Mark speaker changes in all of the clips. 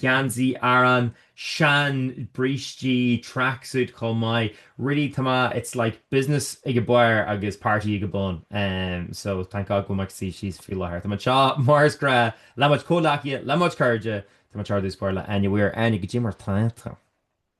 Speaker 1: geansaí Árann, sean brístí, tracksuit chomh maith, really tá mé it's like business ag an barr agus party ag an bun em so thank God go bhfuil muid suí síos faoi láthair. Tá muid anseo mar is gnáth le mo chuid comhleacaithe le mo chuid cairde tá muid ar dtús báire le Áine Mhaoir Áine cad é mar atá tú.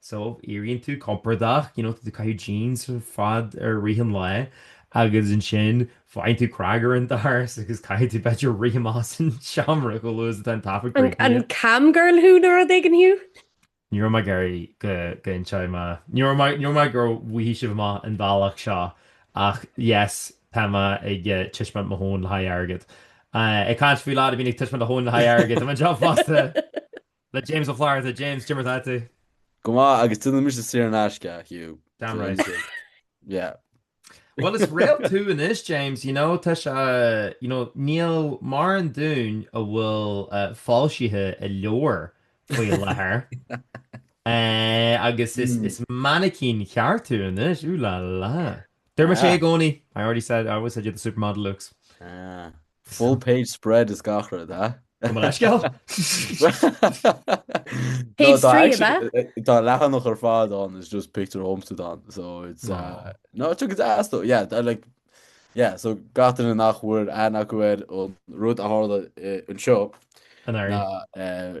Speaker 1: so éiríonn tú compordach, you know, tú ag caitheamh jeans ar fad i rith an lae agus ansin faigheann tú cnag ar an doras agus caithfidh tú b'fhéidir rith amach as an seomra chomh luath is atá an taifead críochnaithe. An cam
Speaker 2: girl thú nó rud éigin Hugh? Ní raibh mé
Speaker 1: ag iarraidh go go inseoidh mé. Ní raibh mé- ní raibh mé ag iarraidh go bhfaigheadh sibh amach an bealach seo ach yes tá mé ag eh, taispeáint mo thóin le haghaidh airgead. Eh, Ag caint faoi leaid a bhíonn ag taispeáint a thóin le haghaidh airgead, tá mé anseo fosta. Le James Ó Flatharta, James, cad é mar atá tú. Go maith,
Speaker 3: agus déanfaidh mise saor in aisce, Hugh. Damn right. Yeah. Well
Speaker 1: is réalt tú anois James, you know, tá sé, you know, níl mórán dúinn a bhfuil foilsithe i leabhar faoi láthair agus is mainicín cheart tú anois, ooh la la. Deirimse i gcónaí, I already said, I always said you had the supermodel looks.
Speaker 3: Full page spread is gach rud, ha? Gabh mo
Speaker 1: leithscéal! Page
Speaker 2: three, ab ea? Tá leathanach ar
Speaker 3: fad ann, is just pictiúr dhomsa atá ann, so it's... Uh, no, tá sé go deas though, yeah, I like... Yeah, so gach duine nach bhfuair aithne acu ar an rud a tharla uh, anseo, anuraidh.
Speaker 1: na, uh,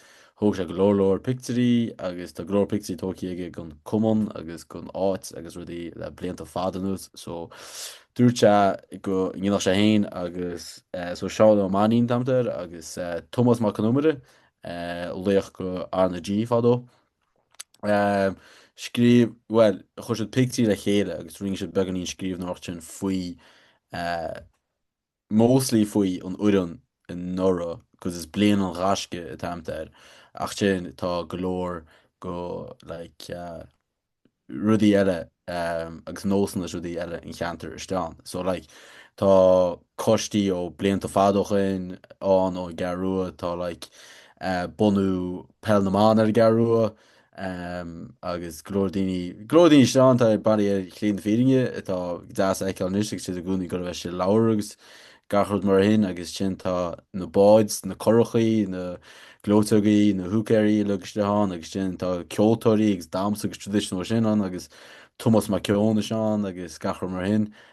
Speaker 3: Thóg sé go leor leor pictiúirí agus tá go leor pictiúirí tóigtí aige den cumann agus den áit agus rudaí le blianta fada anuas so dúirt sé go ndéanfadh sé féin agus so Seán Ó Mainnín an t-ainm atá air agus Tomás Mac Con Iomaire laoch de RnaG fadó scríobh bhuel chuir siad pictiúirí le chéile agus rinne siad beagáinín scríbhneoireacht ansin faoi Mostly faoi an fhoireann anuraidh agus is bliain an ghaisce an t-ainm atá air. Ach ansin, tá go leor go, like, rudaí eile agus nósanna is rudaí eile an cheantair istigh ann. So, like, tá coistí ó blianta fada ó shoin ann ón gCeathrú Rua, tá, like, bunú Peil na mBan ar an gCeathrú Rua, agus go leor daoine, go leor daoine istigh ann atá bailithe ar shlí na fírinne atá deas a fheiceáil anois agus siad i gcónaí ag goil a bheith sa leabhar agus gach rud mar sin agus ansin tá na báid, na curachaí, na gleoiteogaí, na húicéirí uilig istigh ann agus ansin tá ceoltóirí agus damhsa agus traditional sin ann agus Tomás Mac Eoin istigh ann agus gach rud mar sin.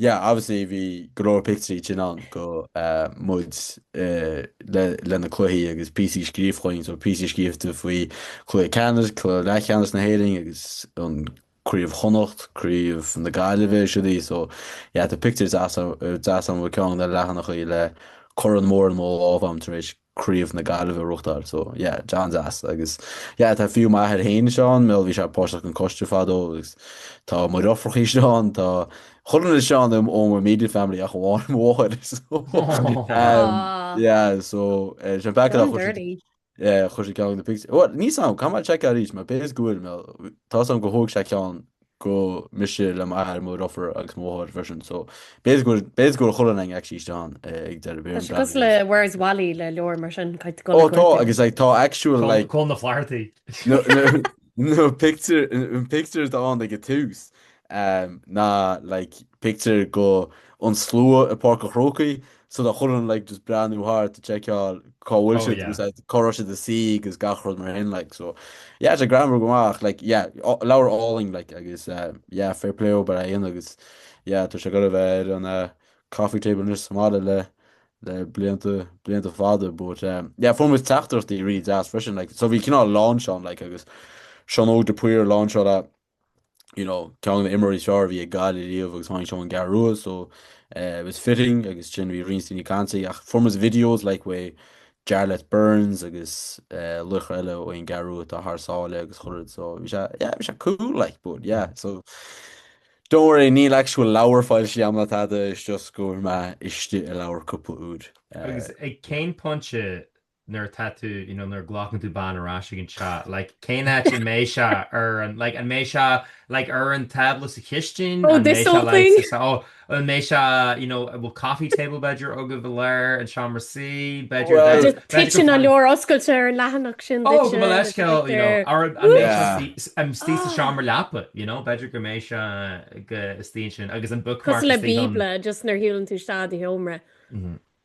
Speaker 3: Yeah obviously bhí go leor pictiúirí dínn ann go muid le na cluichí agus píosaí scríofa againn so píosaí scríofa faoi Cluiche Ceannais, Cluiche Leathcheannais na hÉireann agus an Craobh Chonnacht, Craobh na Gaillimhe is rudaí so yeah tá pictiúr deas ann i gceann de na leathanaigh le corn mór i mo lámh a'm tar éis Craobh na Gaillimhe a reachtáil so yeah an-deas agus yeah tá fiú m'athair féin istigh ann mar bhí sé páirteach an coiste fadó agus tá mo dheirfiúrachaí istigh ann tá chuile dhuine istigh ann um ó my immediate family ach amháin mo mháthair so um, yeah so uh, sin b'fhéidir gur chuir sé ceann de na pictiúir níl a fhios agam caithfidh mé check arís mar b'fhéidir go bhfuil mar tá a fhios agam gur thóg sé ceann go mise le m'athair, mo dheirfiúr agus mo mháthair freisin. So b'fhéidir go bhfuil chuile dhuine actually istigh ann ag deireadh b'fhéidir. Tá sé
Speaker 2: cosúil le Where's Wally le leabhar
Speaker 3: mar sin, caithfidh go. Ó tá agus like tá
Speaker 1: actual like. Cá
Speaker 3: bhfuil na Flathartaí. Na pictiúir atá ann ag an tús ná like pictiúir go an slua i bPáirc an Chrócaigh so tá chuile dhuine like just breathnú thart ag tseiceáil cá bhfuil siad agus like cá
Speaker 1: raibh siad ina
Speaker 3: suí agus gach rud mar sin like so yeah tá greannmhar go maith ach like yeah leabhar álainn like agus yeah fair play dóibh ar aon agus yeah tá sé ag goil a bheith ar an coffee table anois sa mbaile le le blianta blianta fada but yeah fuair muid teachtaireachtaí really deas freisin like so bhí cineál launch ann like agus Seán Óg de Paor a launcháil you know, ceann de na himreoirí is fearr a bhí ag Gaillimh ariamh agus tháinig sé ón gCeathrú Rua, so uh, it was fitting agus sin bhí roinnt daoine ag caint ach fuair muid videos like uaidh Jarlath Burns agus uh, lucht eile ó an gCeathrú Rua atá thar sáile agus chuile rud so bhí sé yeah, bhí sé cool like but yeah so don't worry níl actual leabhar foilsithe agam ná tada is just go bhfuil mé istigh i leabhar cúpla uair. Uh, Agus ag cén
Speaker 1: pointe nuair atá tú, you know, nuair a ghlacann tú bean ar ais ag an teach, like, cén áit an mbeidh sé ar an, like, an mbeidh sé, like, ar an tábla sa chistin, an mbeidh sé, like,
Speaker 2: sa, oh, an mbeidh sé,
Speaker 1: you know, an bhfuil coffee table b'fhéidir agaibh i lár an seomra suí, b'fhéidir, like, b'fhéidir go
Speaker 3: bhfuil. Titeann an
Speaker 1: leabhar
Speaker 2: oscailte ar an leathanach sin duit. Oh, gabh mo leithscéal,
Speaker 1: you know, or an mbeidh sé suí, an suí sa seomra leapa, you
Speaker 2: know,
Speaker 1: b'fhéidir go mbeidh sé go istigh ansin, agus an bookmark istigh ann. Cosúil le Bíobla, just
Speaker 2: nuair a shiúlann tú isteach i do sheomra.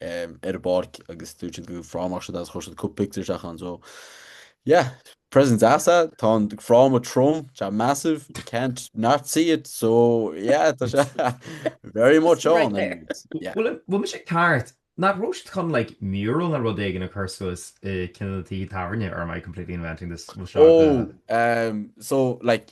Speaker 3: ar an bpáirc agus dúirt siad go bhfuil frámach siad is chuir siad cúpla pictiúr isteach ann so yeah present deas ach tá an fráma trom tá massive you can't not see it so yeah tá sé very much
Speaker 2: ann an bhfuil mise
Speaker 1: ceart nach raibh siad chun like mural nó rud éigin a chur suas i gceann de na tithe tábhairne or am I completely inventing this oh so
Speaker 3: like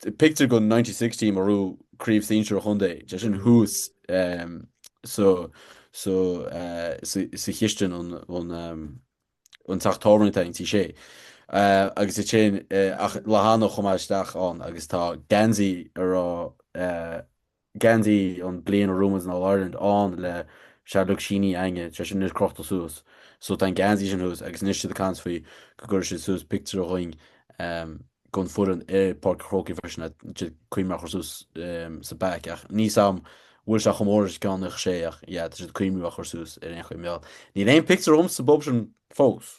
Speaker 3: Pictiúr gon 96 team a bhuaigh craobh sinsir an chontae, tá sin thuas sa Chistin an teach tábhairne atá ann Tí Sé. Agus is é ach leathanach chomh maith isteach ann agus tá geansaí a raibh geansaí an bliain a raibh muid in All Ireland ann le siad uilig sínithe againne, sé sin anois crochta suas. So tá an geansaí sin thuas agus anois siad ag caint faoi go gcuirfidh siad suas pictiúr dhúinn gon foireann i Páirc an Chrócaigh freisin tá siad ag cuimhniú a chur suas sa back ach níl a fhios agam an bhfuil sé chomh mór is ceann na sé ach yeah tá siad ag cuimhniú a chur suas ar aon chaoi bhuel níl aon pictiúr dhom sa bpub sin fós.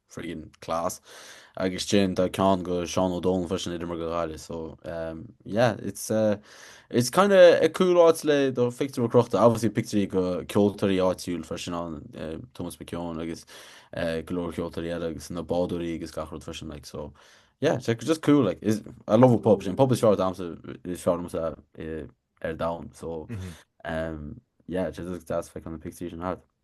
Speaker 3: Freaking class. Agus ansin tá ceann go Seán Ó Domhnaill freisin ag imirt go Ghaillimh so um, yeah it's uh, it's kind of a cool áit le do phictiúr crochta obviously pictiúirí go ceoltóirí áitiúil freisin ann uh, Tomás Mac Eoin agus uh, go leor ceoltóirí eile agus na bádóirí agus gach rud freisin like so yeah it's like, just cool like is I love an pub sin pub is fearr domsa is fearr ar domhan so mm -hmm. um, yeah just deas feiceáil na pictiúirí sin thart.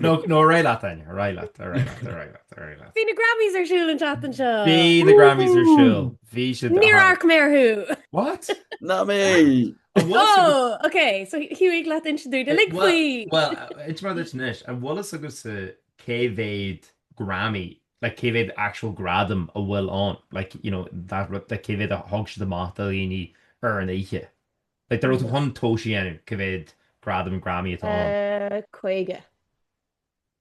Speaker 1: No, no, réidh leat then. Réidh leat, réidh leat, réidh leat, réidh leat. Bhí na Grammys ar siúl
Speaker 2: an tseachtain seo. Bhí na Grammys ar siúl.
Speaker 1: Bhí siad. Níor amharc mé orthu.
Speaker 2: What? Ná
Speaker 1: mé!
Speaker 3: Oh,
Speaker 1: ok, so
Speaker 2: thig leat inse dúinn uilig faoi. Well, it's rather
Speaker 1: it's niche. An bhfuil a fhios agaibhse cé mhéad Grammy, like cé mhéad actual gradam a bhfuil ann, like, you know, that, like cé mhéad a thug siad amach do dhaoine ar an oíche. Like, dá raibh tú chun tomhais a dhéanamh, cé mhéad gradam Grammy atá ann? Eh, caoga.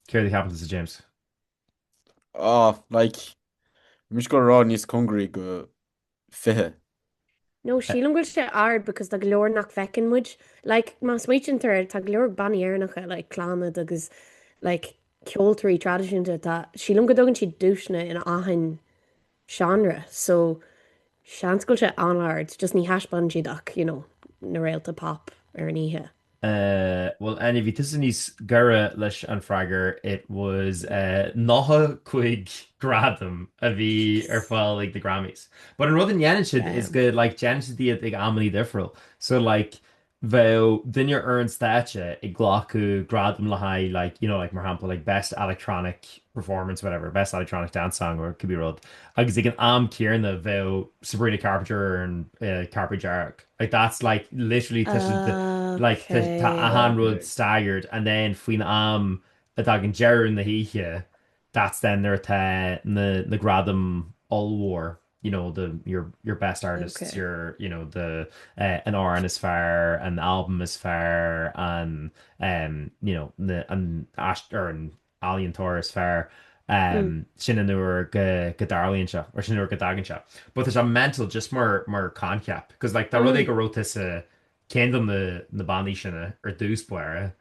Speaker 1: Céard a cheapann tusa James?
Speaker 3: Ah, like, mise ag goil a rá níos congaraí go fiche.
Speaker 2: No, sílim go bhfuil sé ard because tá go leor nach bhfeiceann muid. Like, má smaointítear air, tá go leor bannaí Éireannacha, like, Clannad agus, like, ceoltóirí traidisiúnta atá, sílim go dtugann siad duaiseanna in achan seánra so seans go bhfuil sé an-ard just ní thaispeánann siad ach you know na réalta pop ar an oíche. Bhuel
Speaker 1: Áine, bhí tusa níos gaire leis an freagar, it was 95 gradam a bhí ar fáil ag na Grammys. But an rud a ndéanann siad is go like déanann siad iad ag amannaí difriúil. So like bheadh duine ar an stáitse ag glacadh gradam le haghaidh like, you know, like mar shampla like best electronic performance whatever, best electronic dance song or it could be rud agus ag an am céarna bheadh Sabrina Carpenter ar an cairpéad dearg. Like that's like literally tá siad de like tá tá achan rud Amazing. staggered and then faoin am a dtagann deireadh na hoíche that's then nuair atá na na gradaim ollmhór. you know the your your best artists okay. your you know the uh, an Aran is fair an album is fair an um you know the an Ashtar an Alien Tor is fair um mm. sin an nuair go go darlíonn se or sin nuair go dagan se but there's a mental just mar mar concept because like tá rud mm. go rota sa Ceann de na bannaí sin ar dtús báire,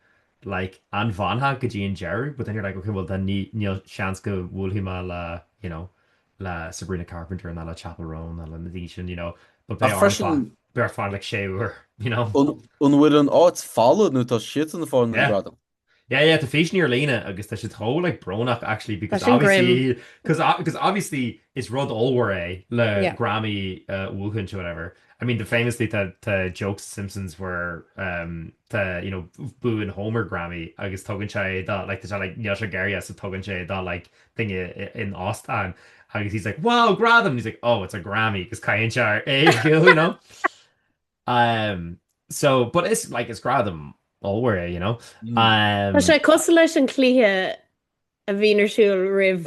Speaker 1: like, an bhfanfá go dtí an deireadh? But then you're like, ok, bhuel then níl seans go bhuailfidh mé le, you know, le Sabrina Carpenter ná le Chappell Roan ná le na daoine sin, you know, but beidh orm fanacht, beidh orm fanacht like sé uair, you know. An
Speaker 3: bhfuil an áit folamh nuair atá siad ag fáil na gradaim? Yeah yeah tá
Speaker 1: físeanna ar líne agus tá siad chomh like brónach actually because obviously because because obviously is rud ollmhór é le yeah. Grammy a bhuachaint or whatever I mean the famously tá tá joke sa Simpsons where um, tá you know buann Homer Grammy agus tugann sé do like tá sé like níl sé ag iarraidh so tugann sé do like duine in óstán agus he's like wow gradam he's like oh it's a Grammy agus caitheann sé air é you know Umm so but is like is gradam ollmhór é you know.
Speaker 2: Umm. Tá sé cosúil leis an cluiche a bhíonn ar siúl roimh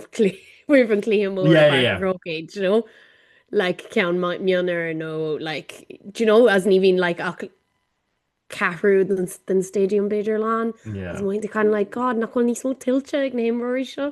Speaker 2: roimh an cluiche mór yeah yeah yeah rugby do you know like ceann mionúr nó like do you know is ní bhíonn like ach ceathrú den stadium b'fhéidir lán yeah is mothaíonn tú kind of like god nach bhfuil níos mó tuillte ag na himreoirí seo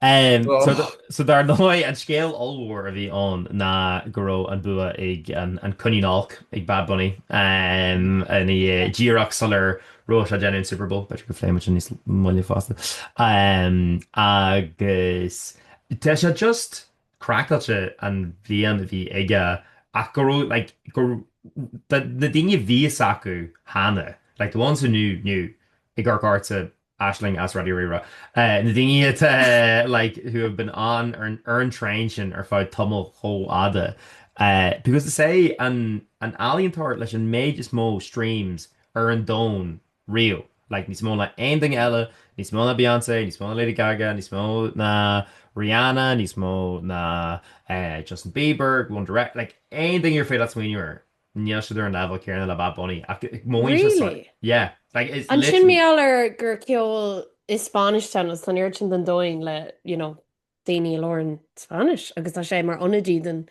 Speaker 1: So dar ndóigh, an scéal ollmhór a bhí ann ná go raibh an bua ag an coinín olc, ag Bad Bunny, ina dhiaidh díreach sular raibh sé ag déanamh an Super Bowl. B'fhéidir go bpléifidh muid sin níos moille fosta. Agus tá sé just craiceáilte an bhliain a bhí aige ach go raibh, like, go, na daoine a bhí a fhios acu cheana, like, the ones who knew, knew, ach go háirithe Aisling as Raidió Rí-Rá. Na daoine atá like who have been on ar an traein sin ar feadh tamall chomh fhada because tá sé an ealaíontóir leis an méid is mó streams ar an domhan riamh. Like níos mó ná aon duine eile, níos mó ná Beyonce, níos mó ná Lady Gaga, níos mó ná Rihanna, níos mó ná Justin Bieber, One Direction, like aon duine ar féidir leat smaoineamh air. Níl siad ar an leibhéal céanna le Bad Bunny ach mothaíonn sé Really? Yeah, like it's
Speaker 2: Ansin
Speaker 1: literally. mar gheall
Speaker 2: air
Speaker 1: gur
Speaker 2: ceol i Spáinnis atá ann agus tá an oiread sin den domhain le, you know, daoine a labhrann Spáinnis agus tá sé mar ionadaí den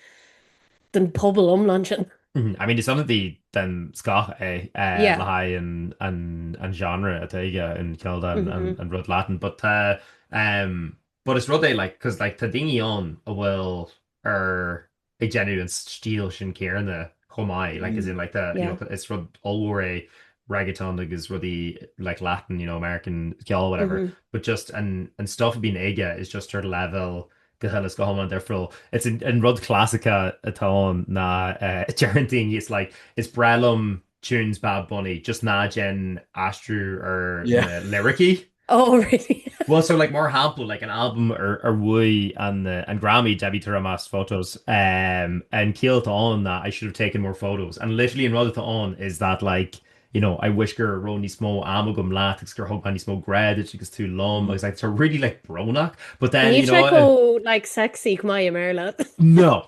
Speaker 2: den pobal iomlán sin. Mhm, I mean is
Speaker 1: ionadaí den scoth é eh, Yeah. le haghaidh
Speaker 2: an
Speaker 1: an an genre atá aige an ceol dá an an Mhm. an rud Latin
Speaker 2: but tá
Speaker 1: em, but is rud é like 'cause like tá daoine ann a bhfuil ar ag déanamh an stíl sin céanna chomh maith, like as in like tá, you know, is
Speaker 2: rud
Speaker 1: ollmhór é reggaeton agus rudaí like Latin, you know, American ceol, whatever, but just
Speaker 2: an,
Speaker 1: an stuff a bíonn aige is just ar leibhéal go huile is go hiomlán difriúil. It's an, an rud clasaiceach atá ann ná uh, deireann daoine, it's like, is breá liom tunes bad bunny just ná déan aistriú ar na
Speaker 3: liricí.
Speaker 1: Oh
Speaker 2: really? Well so like mar shampla
Speaker 1: like an album ar ar bhuaigh an uh, an Grammy Debí Tirar Más Fotos um, an ciall atá ann ná I should have taken more photos and literally an rud atá ann is that like you know I wish go raibh níos mó ama agam leat agus gur thug mé níos mó grá duit agus tú liom agus like it's a really like brónach but then Ní you know, like
Speaker 2: sexy go maith i mBéarla. No,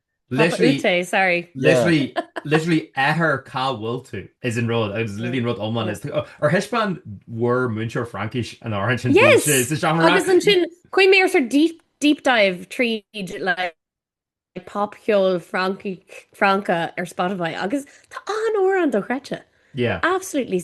Speaker 1: Papa Ute,
Speaker 2: sorry. Literally,
Speaker 1: literally athair cá bhfuil tú is an rud agus is literally an rud amháin is ar thaispeáin bhur múinteoir Fraincis an amhrán sin Yes! bhímse sa seomra. Agus
Speaker 2: ansin, chuaigh mé ar sort deep, deep dive tríd like pop cheol Francach ar Spotify agus tá an amhrán dochreidte. Yeah. Absolutely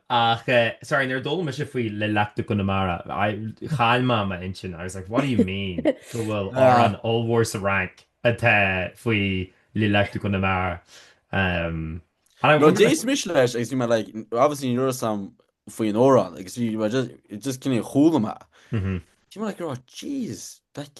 Speaker 1: Ach, sorry, nuair a d'fhoghlaim mise faoi Les Lacs du Connemara, chaill mé m'intinn. I was like, what do you mean go bhfuil amhrán ollmhór sa Fhrainc atá faoi Les Lacs du Connemara? Um, and I No, wonder... d'éist mise
Speaker 3: leis agus bhí mé like, obviously ní raibh a fhios agam faoi an amhrán agus bhí mé just, just kind of chuala mé é. Bhí mé like,
Speaker 1: oh,
Speaker 3: jeez, like,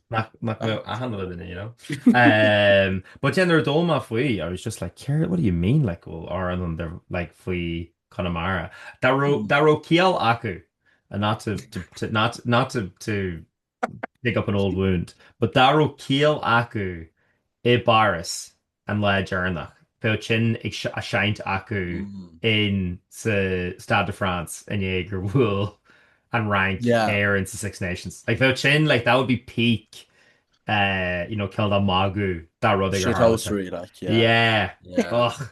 Speaker 3: Nach
Speaker 1: nach mbeadh achan rud in ann, you know. But yeah, nuair a d'fhoghlaim mé faoi, I was just like, céard, what do you mean, like, go bhfuil amhrán there, like, faoi Chonamara? Dá raibh, dá raibh ciall acu, and not to, to, to, not, not to, to dig up an old wound, but dá raibh ciall acu i bPáras, an lá deireanach, bheadh sin á sheinnt acu in sa Stade de France i ndiaidh gur bhuail an Fhrainc Éire in sa Six Nations. Like, bheadh sin, like, that would be peak uh, you know, cineál
Speaker 3: de magadh
Speaker 1: de rud ag ar
Speaker 3: Shithousery,
Speaker 1: like, yeah.
Speaker 3: Yeah. yeah. Och.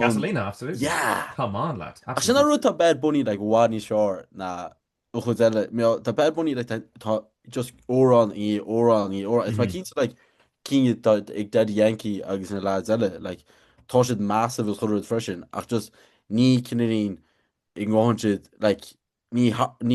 Speaker 3: Gasolina,
Speaker 1: absolutely. Yeah! Come on,
Speaker 3: lads. Absolutely.
Speaker 1: Ach sin an rud, tá
Speaker 3: bad bunny like i bhfad níos fearr ná an chuid eile. You know, tá bad bunny like tá, tá just amhrán i ndiaidh amhrán i ndiaidh amhrán. Is tá mé cinnte like cinn ag Daddy Yankee agus na lads eile like tá siad massive is chuile rud freisin ach just ní cineál ní ghabhann siad like ní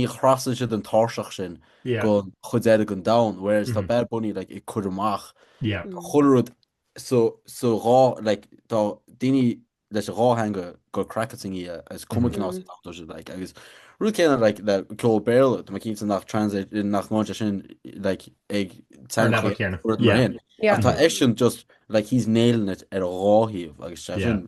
Speaker 3: thrasnaíonn siad an tairseach sin go chuid eile den domhan, whereas tá Bad Bunny like ag cur amach chuile rud sa dhá like tá daoine leis an dhá theanga ag goil craiceáilte ina dhiaidh is cuma cén áit atá siad like agus rud céanna like le ceol Béarla tá mé cinnte nach translate nach ngabhann sé sin like ag Ar teanga leibhéal chéanna. rud mar Yeah. sin Yeah. ach tá eisean just like he's nailing it ar an dhá thaobh agus tá Yeah. sin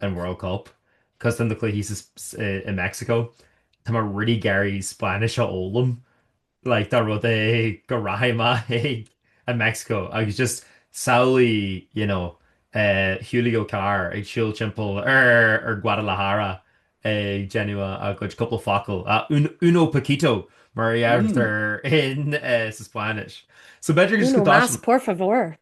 Speaker 1: an World Cup, cause tá na cluichí in Mexico, tá mé really ag iarraidh Spáinnis a fhoghlaim, like dá rud é go rachaidh mé ag an Mexico agus just samhlaigh you know Julio Carr ag siúl timpeall ar Guadalajara ag déanamh a gcuid cúpla focal, a uno poquito mar a deirtear in sa Spáinnis. So b'fhéidir just go dtáinig. Uno más por favor.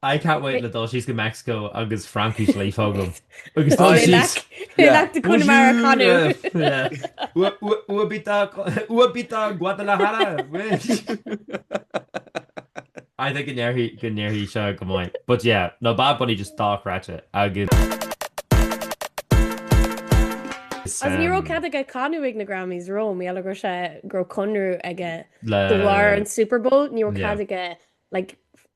Speaker 3: I can't wait le
Speaker 1: dul síos go Meicsiceo agus Fraincis líofa agam agus dul
Speaker 2: síos. Les Lacs du Connemara a
Speaker 1: chanadh. Ua bita Guadalajara. I think go n-éireoidh seo go maith. But yeah, no Bad Bunny just dochreidte agus.
Speaker 2: Agus ní raibh cead aige canadh ag na Grammys rom, i eile gur sé go raibh conradh aige de bharr an Super Bowl, ní raibh cead aige like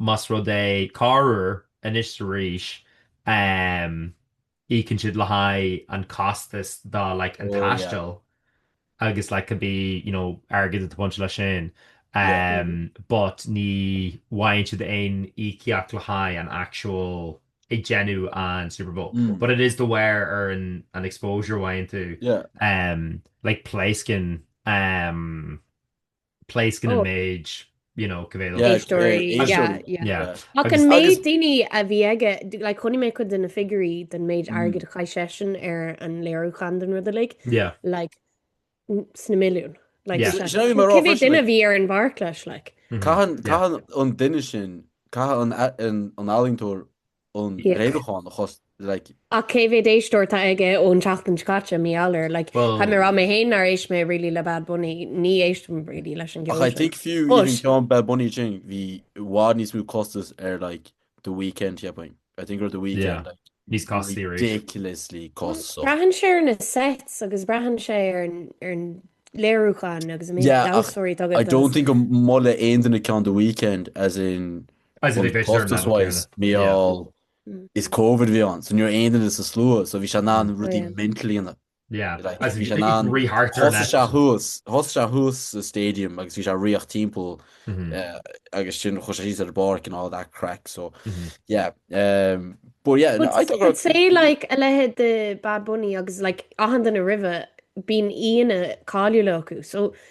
Speaker 1: más rud é, corruair, anois is arís, íocann siad le haghaidh an costas do like an taisteal agus like could be you know airgead atá bainteach leis sin but ní bhfaigheann siad aon íocaíocht le haghaidh an actual ag déanamh an Super Bowl but it is de bharr an an exposure a fhaigheann tú
Speaker 3: like
Speaker 1: pléascann pléascann an Oh. méid,
Speaker 2: you
Speaker 1: know, go bhféadfadh. Yeah, Éisteoirí, eh,
Speaker 3: yeah, éisteoirí.
Speaker 2: yeah. Yeah.
Speaker 3: Ach
Speaker 2: an Agus- méid
Speaker 3: agus- daoine
Speaker 1: a
Speaker 2: bhí
Speaker 3: aige,
Speaker 2: d- like, chonaic mé cuid de na figurí den méid Mm. airgid a chaith seisean
Speaker 3: ar
Speaker 2: an léiriúchán den rud uilig, Yeah. like, n- sna milliún. Like, Yeah. it's like, Sin é mar cé mhéad
Speaker 1: ábhar, duine
Speaker 3: like. bhí ar
Speaker 2: an pháirc leis, like. Mhm. Caitheann, Yeah. caitheann
Speaker 1: an
Speaker 3: duine
Speaker 1: sin,
Speaker 3: caitheann an, a- an, an ealaíontóir an léiriúchán
Speaker 2: a chlúdach,
Speaker 3: like. Ach cé mhéad
Speaker 2: éisteoir atá aige ón tseachtain seo caite, mí-ealaín, like, Well. Tá mé ag rá, mé fhéin nár
Speaker 1: éist
Speaker 2: mé really le Bad Bunny, ní éistim really leis an gceol Ach I sin. think fiú iad But.
Speaker 3: an ceann Bad Bunny
Speaker 2: sin,
Speaker 3: bhí i bhfad níos mó costas ar like The Weeknd, cheapfainn. I think ar The Weeknd, Yeah. like, Níos
Speaker 1: costasaí arís. ridiculously
Speaker 3: cost, so. Braitheann sé ar na
Speaker 2: sets agus braitheann sé ar an, ar an léiriúchán agus an méid Yeah, ach damhsóirí atá agat I
Speaker 3: don't agus. think
Speaker 2: go molann
Speaker 3: aon duine ceann The Weeknd, as in,
Speaker 1: Costas
Speaker 3: wise, mar
Speaker 1: gheall
Speaker 3: is covid a bhí ann, so ní raibh aon duine sa slua, so bhí sé in ann rudaí mental a dhéanamh, bhí sé
Speaker 1: in ann, thosaigh
Speaker 3: sé
Speaker 1: thuas, thosaigh sé
Speaker 3: thuas sa stadium agus bhí sé ag rith timpeall
Speaker 1: agus ansin
Speaker 3: chuaigh sé síos ar an bpáirc and all that craic, so yeah, but yeah, no, I don't. I'd say like
Speaker 2: a
Speaker 3: leithéid
Speaker 2: de Bad Bunny agus like achan duine roimhe, bíonn aíonna cáiliúla acu, so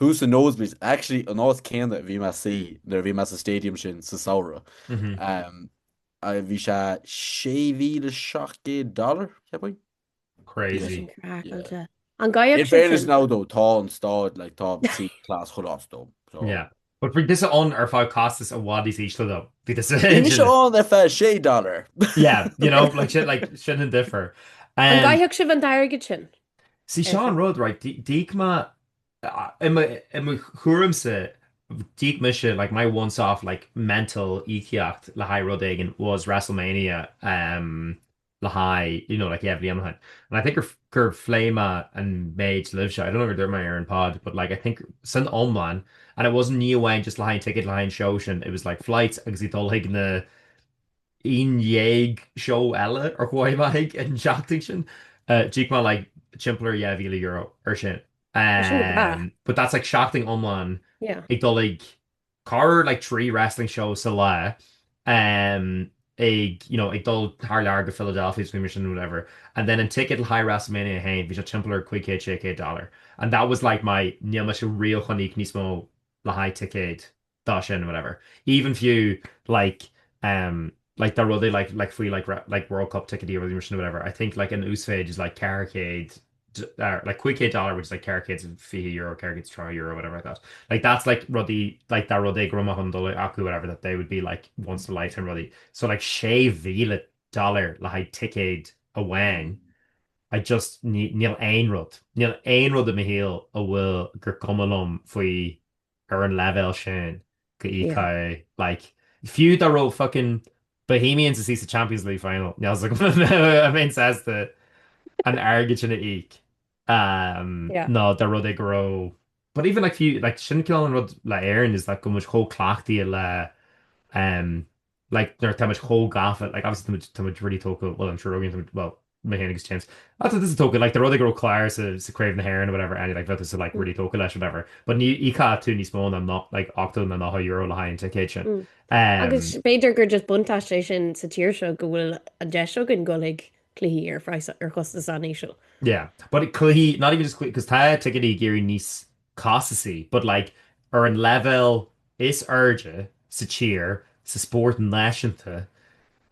Speaker 3: Thuas sna Nosebleeds, actually an áit céanna a bhí mé i mo shuí nuair a bhí mé sa stadium sin sa samhradh. Um,
Speaker 1: a
Speaker 3: bhí $6,700, ceapaim? Crazy. Sin
Speaker 1: craiceáilte.
Speaker 3: Yeah.. An In gcaithfeadh
Speaker 2: sibh fairness sin. now though, tá
Speaker 3: an stáid, like, tá sí class chuile áit though. So, Yeah. But bhí
Speaker 1: tusa ann ar feadh costas i bhfad níos ísle though. Bhí tusa ann. Bhí mise ann
Speaker 3: ar feadh $6. Yeah, you know,
Speaker 1: like sin, like, sin an difear. An Um, gcaithfeadh
Speaker 2: sibh an t-airgead sin? see seo an
Speaker 1: rud, right, dí- d'íoc mé, a- i mo- i mo thuairimse, d'íoc mise, like, my once-off, like, mental íocaíocht le haghaidh rud éigin was WrestleMania, um, le haghaidh, you know, like, yeah, bhliain ó shin. And I think gur, gur phléigh mé an méid libhse, I don't know gur dhúirt mé ar an pod, but like, I think, san iomlán, and it wasn't, ní amháin just le haghaidh an ticket, le haghaidh an seó sin, it was like flights agus í dul chuig na aon dhéag seó eile ar chuaigh mé chuig an seachtain sin, uh, d'íoc mé like timpeall ar dhá mhíle euro ar sin. Tá sin go maith. Um, but that's like seachtain iomlán Yeah. ag dul chuig Ceithre like trí wrestling show sa lá ehm ag you know ag dul thar lear go Philadelphia agus gan mention whatever and then an ticket le haghaidh Wrestlemania féin bhí sé timpeall ar $500 and that was like my níl mise riamh chun íoc níos mó le haghaidh ticéad ná sin and whatever even fiú like ehm like tá rudaí like like faoi like like World Cup ticketí arm mention whatever I think like an uasmhéid is like 400 like cúig chéad dollar which is like ceithre chéad fiche euro ceithre chéad tríocha euro whatever like that like that's like rudaí like dá rud é go raibh mé chun dul acu whatever that they would be like once in a lifetime rudaí so like sé mhíle dollar le haghaidh ticéad amháin I just ní- níl aon rud níl aon rud i mo shaol a bhfuil gur cuma liom faoi ar an leibhéal sin go n-íocfainn like fiú dá raibh fucking Bohemians istigh sa Champions League final níl fhios agam an mbeinn sásta an airgead sin a
Speaker 2: íoc nó dá rud é
Speaker 1: go raibh but even like fiú like sin cineál an rud le Éirinn is like tá muid chomh cleachtaithe le Like, nuair atáimid chomh gafa, like, obviously táimid, táimid really tógtha, well, I'm sure again, táimid, well, mé féin agus James, ah, tá tusa tógtha, like, dá rud é go raibh Clare sa, sa Craobh na hÉireann or whatever, any, like, bheadh tusa, like, really tógtha leis, whatever. But ní íocfadh tú níos mó ná no, like, ochtó nó nócha euro le haghaidh an ticéid sin. Um. Agus
Speaker 2: b'fhéidir gur just buntáiste é sin sa tír seo go bhfuil an deis againn dul chuig cluichí ar phraghas, ar chostas an-íseal. Yeah. But
Speaker 1: cluichí, not even just cluichí, 'cause tá ticéidí ag éirí níos costasaí, but like ar an leibhéal is airde sa tír, sa spórt náisiúnta,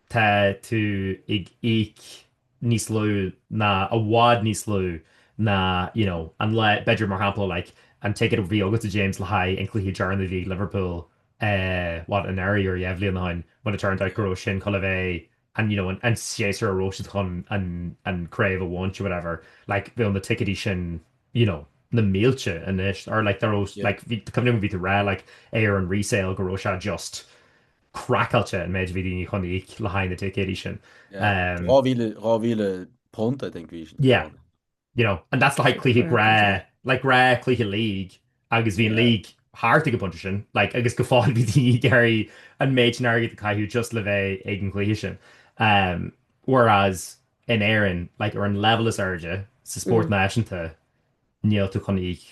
Speaker 1: tá tú ag íoc níos lú ná, i bhfad níos lú ná you know an lá, b'fhéidir mar shampla like an ticket a bhí agatsa James le haghaidh an cluiche deireanach a bhí ag Liverpool eh what anuraidh or dhá bhliain ó shin when it turned out go raibh sin chun a bheith an, you know, an séasúr a raibh siad chun an craobh a bhaint or whatever, like, bheadh na ticéidí sin, you know, na mílte anois, or like, dá raibh, like, is cuimhin liom go raibh tú ag rá, like, ar an resale go raibh sé just craiceáilte an méid a bhí daoine chun íoc le haghaidh na ticéidí sin. £2,000, I
Speaker 3: think, bhí. Yeah.
Speaker 1: You know, and that's le haghaidh cluiche gnáth, like gnáth cluiche league agus bhí an league thart ag an bpointe sin, like agus go fóill bhí daoine ag iarraidh an méid sin airgid a caitheamh just le bheith ag an gcluiche sin. Um, whereas in Éirinn, like ar an leibhéal is airde, sa spórt náisiúnta, níl tú chun íoc.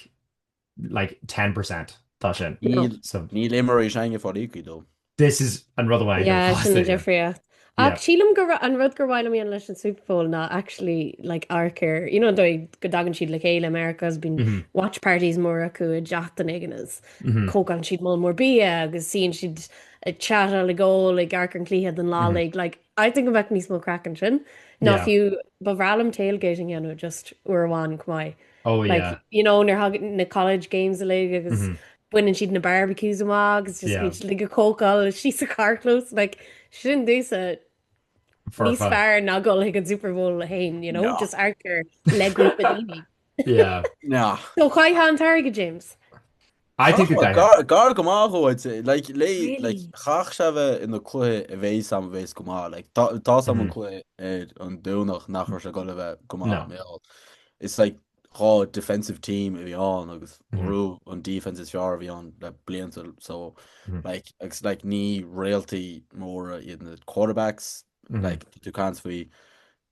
Speaker 1: like 10% de sin.
Speaker 3: Níl imreoirí sin ag fáil íoctha though. This is an
Speaker 1: rud amháin. Yeah, sin an
Speaker 2: difríocht. Ach sílim gurb é an rud gur mhaith liom a dhéanamh leis an Super Bowl ná actually like amharc ar, you know, go dtagann siad le chéile i Meiriceá is bíonn watch parties móra acu i dteach duine éigin is cócann siad moll mór bia agus suíonn siad ag chatáil ag ól ag amharc ar an cluiche don lá uilig. Like I think go mbeadh níos mó craic ansin ná fiú ba bhreá liom tailgate a dhéanamh just uair amháin chomh maith. Oh yeah. Like,
Speaker 1: you know,
Speaker 2: nuair tháinig na college games uilig agus baineann siad na barbecues amach agus just ag cócáil síos sa carrchlós, like, sin dóibhsean níos fearr ná a ghabháil ag an Super Bowl é féin, you know, just arcar le grúpa daoine. Yeah.
Speaker 1: No. So
Speaker 3: cé atá an tairge,
Speaker 2: James? I think
Speaker 1: gar go
Speaker 3: maith dhó dhul like chaithfeadh sé bheith ina chluiche a bheadh a fhios agam a bheas go maith. Like tá tá a fhios agam an cluiche ar an Domhnach nach raibh sé ag goil a bheith go maith mar. It's like dhá defensive team a bhí ann agus b'fhéidir an defense is fearr a bhí ann le blianta so like agus like ní réaltaí móra iad na quarterbacks like tá tú ag caint faoi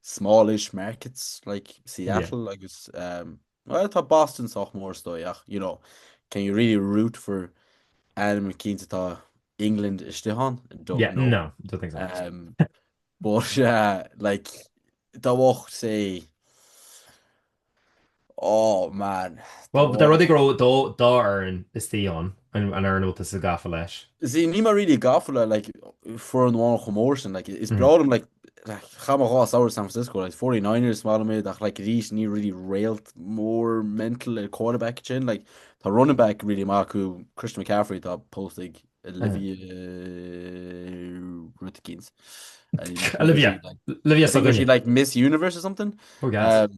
Speaker 3: smallish markets like Seattle agus um, Bhuel, tá Boston sách mór is dóigh ach, you know, can you really root for ainm eicínt a tá England istigh ann? I don't know. Yeah, no,
Speaker 1: don't think so. Um,
Speaker 3: but, uh, like, dá mbeadh sé, oh man. Well, dá rud é go
Speaker 1: raibh dhá, dhá fhoireann istigh ann. a raibh tú sách gafa leis. See níl mé
Speaker 3: really gafa le like foireann amháin chomh mór sin like is breá liom like like chaith mé dhá samhradh San Francisco like 49ers is maith liom iad ach like arís ní really réalt mór mental ar quarterback ansin like tá running back really maith acu Christian McCaffrey tá pósta ag Olivia, what's her name, Olivia Olivia, she's like Miss Universe or something oh gas um,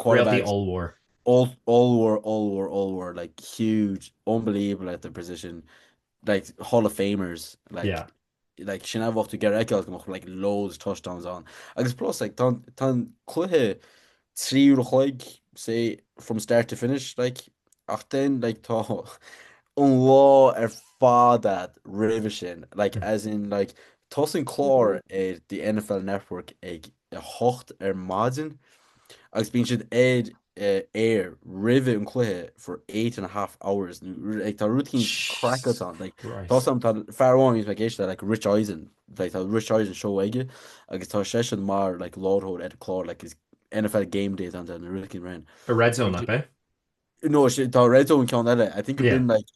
Speaker 1: Réaltaí
Speaker 3: ollmhór. ollmhór, ollmhór, ollmhór, like huge, unbelievable at their position, like Hall of Famers, like, yeah. like sin a bheadh tú ag iarraidh fheiceáil go mbeadh like loads touchdowns ann. Agus plus, like, tá an cluiche trí uair an chloig, say, from start to finish, like, ach then, like, tá an lá ar fad roimhe sin, like, mm. as in, like, tosaíonn clár ar the NFL Network ag 8 ar maidin agus bíonn siad ar aer roimhe an cluiche for eight and a half hours like tá rúitín craiceáilte Jesus ann like tá Christ. a fhios agam tá fear amháin a bhíos mé ag éisteacht leis like Rich Eisen like tá Rich Eisen show aige agus tá seisean mar like láithreoir ar an clár like is NFL Game Day atá ann ach rúitín mar sin Ar Red Zone, nach é?
Speaker 1: No,
Speaker 3: tá Red Zone ceann eile. I think it been like,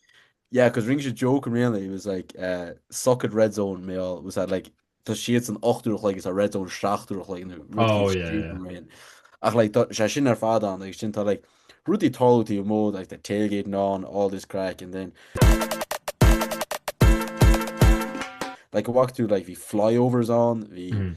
Speaker 3: yeah, because ring a joke in really, it was like, uh, suck at Red Zone, me all, was that like, tá siad san 8ú chluig is a Red Zone 7ú chluig nó oh, yeah, yeah. Ach like, sé sin ar fád an, agus sin tá like, rudí tolútaí a mód, like the tailgate and on, all this crack, and then... like a walk through like the flyovers on the mm.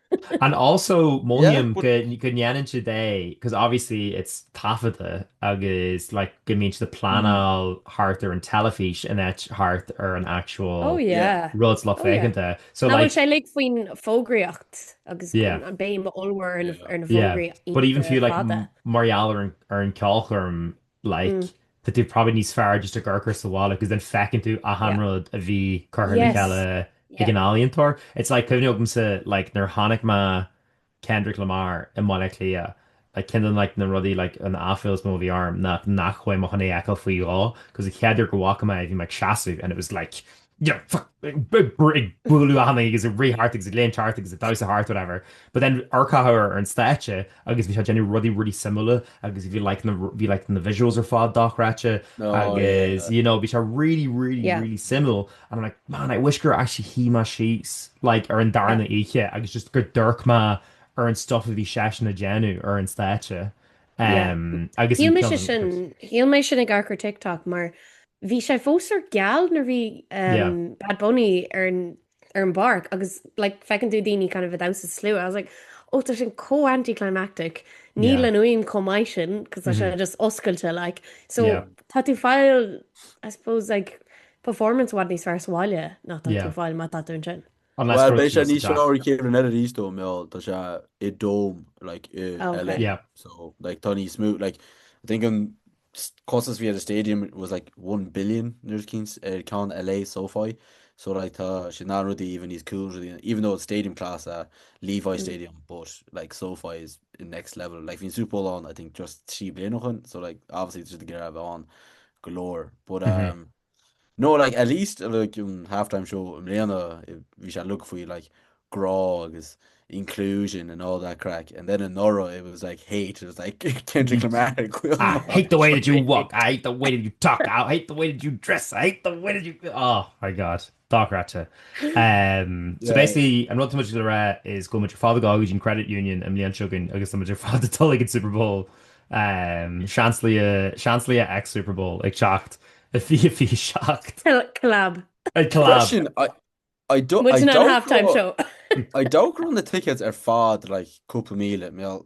Speaker 2: And
Speaker 1: also,
Speaker 3: mothaím go ndéanann
Speaker 1: siad é, because obviously it's taifeadta agus like go mbíonn siad ag pleanáil thart ar an teilifís in áit thart ar an actual rud
Speaker 2: lucht féachana atá
Speaker 1: ann. So
Speaker 2: like. Nach
Speaker 1: bhfuil sé uilig
Speaker 2: faoin fógraíocht agus an béim
Speaker 1: ollmhór ar
Speaker 2: na fógraí. But even fiú
Speaker 1: like mar gheall
Speaker 2: ar
Speaker 1: an ceolchoirm, like tá tú probably níos fearr just ag amharc air sa bhaile cos then feiceann tú achan rud a bhí curtha le cheile
Speaker 2: ag an
Speaker 1: ealaíontóir.
Speaker 2: It's
Speaker 1: like cuimhin agamsa like nuair tháinig Kendrick Lamar i mBaile Átha Cliath like ceann de like na rudaí like an aiféal is mó a bhí orm ná nach chuaigh mé chun é a fheiceáil faoi dhó cos an chéad uair go bhfaca mé é bhí mé ag seasamh and it was like ag bualadh ana agus ag rith thart agus ag léim thart agus ag damhsa thart whatever. But then amharc air ar an stáitse agus bhí sé ag déanamh rudaí really suimiúla agus bhí like na bhí like na visuals ar fad dochreidte agus you know bhí sé really really really suimiúil and I'm like man I wish gur actually shuigh mé síos like ar an darna oíche agus just gur d'amharc mé ar an stuff a bhí seisean ag déanamh ar an stáitse. agus Shíl mise
Speaker 2: sin, shíl mé sin ag amharc ar TikTok mar bhí sé fós geal nuair bhí Bad Bunny ar an bpáirc agus like feiceann tú daoine kind of ag damhsa sa slua. I was like ó tá sin chomh anticlimactic, níl an fhuaim chomh maith sin cos tá sé just oscailte like. So tá tú ag fáil I suppose like performance i bhfad níos fearr sa bhaile ná tá tú ag fáil má tá tú ansin. An Bhuel, beidh sé
Speaker 3: níos fearr i gcéimeanna eile arís dó, mé ol, tá sé i dome, like, i Oh, LA. okay. Yeah. So,
Speaker 1: like, tá
Speaker 3: níos mó, like, I think an s- costas bhí ar the stadium was like 1 billion nuair is cíns ar ceann LA SoFi. So, like, tá sé na rudaí even níos cool rudaí, even though it's stadium class é Levi Mm. Stadium, but, like, SoFi is in next level. Like, bhí'n Super Bowl ann, I think, just trí bliana ó shoin, so, like, obviously, just ag iarraidh a bheith ann go leor. But, Mhm. um, No like at least like um, halftime show i mléana bhí sé look faoi like grá agus inclusion and all that crack and then in Nora it was like hate it was like Kendrick Lamar I hate the way
Speaker 1: that you walk I hate the way that you talk I hate the way that you dress I hate the way that you oh my god Dochreidte. So basically an rud atá muid le rá is go bhfuil muid ar fad ag dul go dtí an Credit Union i mbliain seo chugainn agus tá muid ar fad ag dul ag an Super Bowl, Seansálaithe x Super Bowl ag teacht i fiche fiche seacht.
Speaker 2: Collab. Collab.
Speaker 3: Sin I don't halftime show.
Speaker 2: I don't run
Speaker 3: na tickets ar fad like cúpla míle mé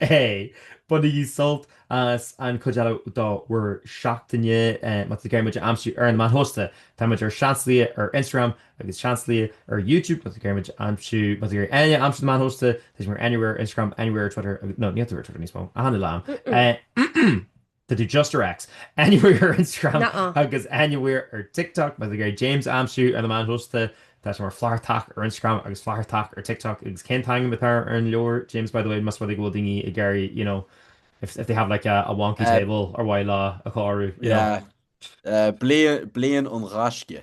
Speaker 1: É! Bainigí sult as an chuid eile do bhur seachtaine. Má tá sibh ag iarraidh muid a aimsiú ar na meáin shóisialta, tá muid ar Seansálaithe ar Instagram agus Seansálaithe ar YouTube. Má tá muid ag aimsiú, má tá éinne ag aimsiú ar na meáin shóisialta, tá sé mar anywhere ar Instagram, anywhere ar Twitter, nó níl tú ar Twitter níos mó, a Thána Liom. tá tú just ar X anywhere ar Instagram Nuh-uh. agus
Speaker 2: anywhere
Speaker 1: ar TikTok Ag iarraidh James a aimsiú ar na meáin shóisialta, tá sé mar Flathartach ar Instagram agus Flathartach ar TikTok agus cén t-ainm atá ar an leabhar James by the way más rud é go bhfuil daoine ag iarraidh you know if if they have like a a wonky Uh, table ar mhaith leo a chóiriú you know. yeah, uh,
Speaker 3: bliain, bliain an ghaisce.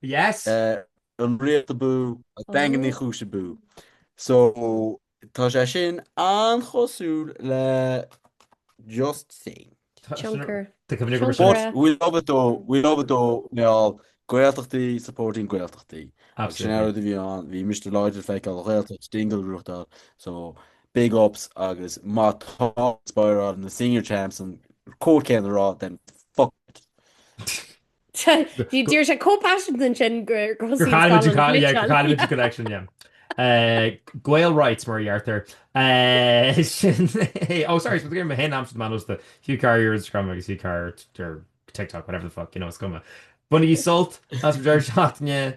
Speaker 1: Yes!
Speaker 3: an Ghaeltacht abú, Daingean Uí Chúis abú. So tá sé sin an-chosúil le just saying.
Speaker 2: Tionchar. But
Speaker 3: we love it though, we love it though Niall, Gaeltachtaí supporting Gaeltachtaí. Agus sin an rud a bhí ann, bhí Mister Lloyd le feiceáil an Ghaeltacht Dingle Ruthdail, so big ups agus má tá Spire on the senior champs an comhad céanna a rá then fuck it.
Speaker 2: Dúirt sé chomh paiseanta sin,
Speaker 1: connection, Gael Rights mar a deirtear. Sin é, oh sorry, tá mé féin a aimsiú ar na meáin shóisialta Hugh Carr ar Instagram agus Hugh Carr ar TikTok, whatever the fuck, you know, is cuma. Bainigí sult as bhur seachtain